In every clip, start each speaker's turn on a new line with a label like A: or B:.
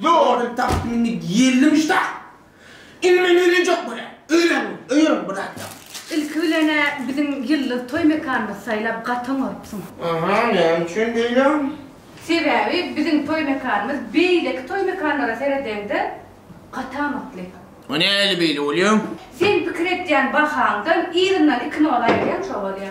A: Ýogaly takmini ýelli muştak. Indi men öýlenjek bolýan. Öýlen, öýerem bir zat ýok. Ilki bilen-ä biziň ýyldyz toý mekanymyzy saýlap gaty oňarypsyň. Aha, näme üçin beýle? Sebäbi biziň toý mekanymyz beýleki toý mekanlara seredeňde gaty amatly. O nähili beýle bolýa? Sen pikir etýän bahaňdan yzyndan iki nol aýyrýan şo bolýa.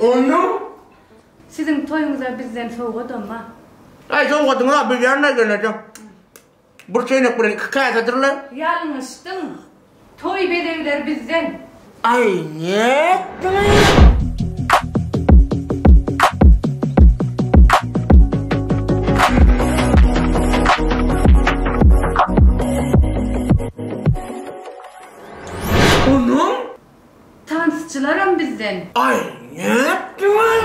A: Ondan Siziň toýuňyza bizden sowgadamma. Aý, sowgadyňy-a bilýän-dä gelnejeň. Bir çeýnek bilen iki käsedir-le. Ýalňyşdyň. Toý bezegleri bizden. Aý, nätdiňiz? Ondan Tansçylaram bizden. Aý nätdiňiz?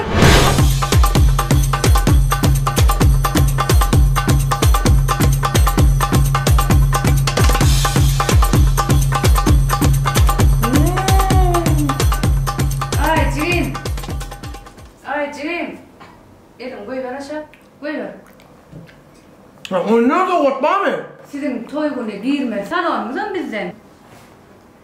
A: Aý jigim. Aý jigim. Eliňi goýber aşak. Goýber. Oýnarys owgatbamy? Siziň toý güni girme salonyňyzam bizden.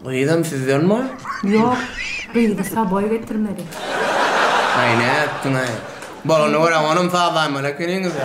A: Gyzam sizden bor? Ýok, gyzy Saboý getirmedi. Aý nätdiňaý. Bolany görä onam sazlaýmaly ekeniňizä.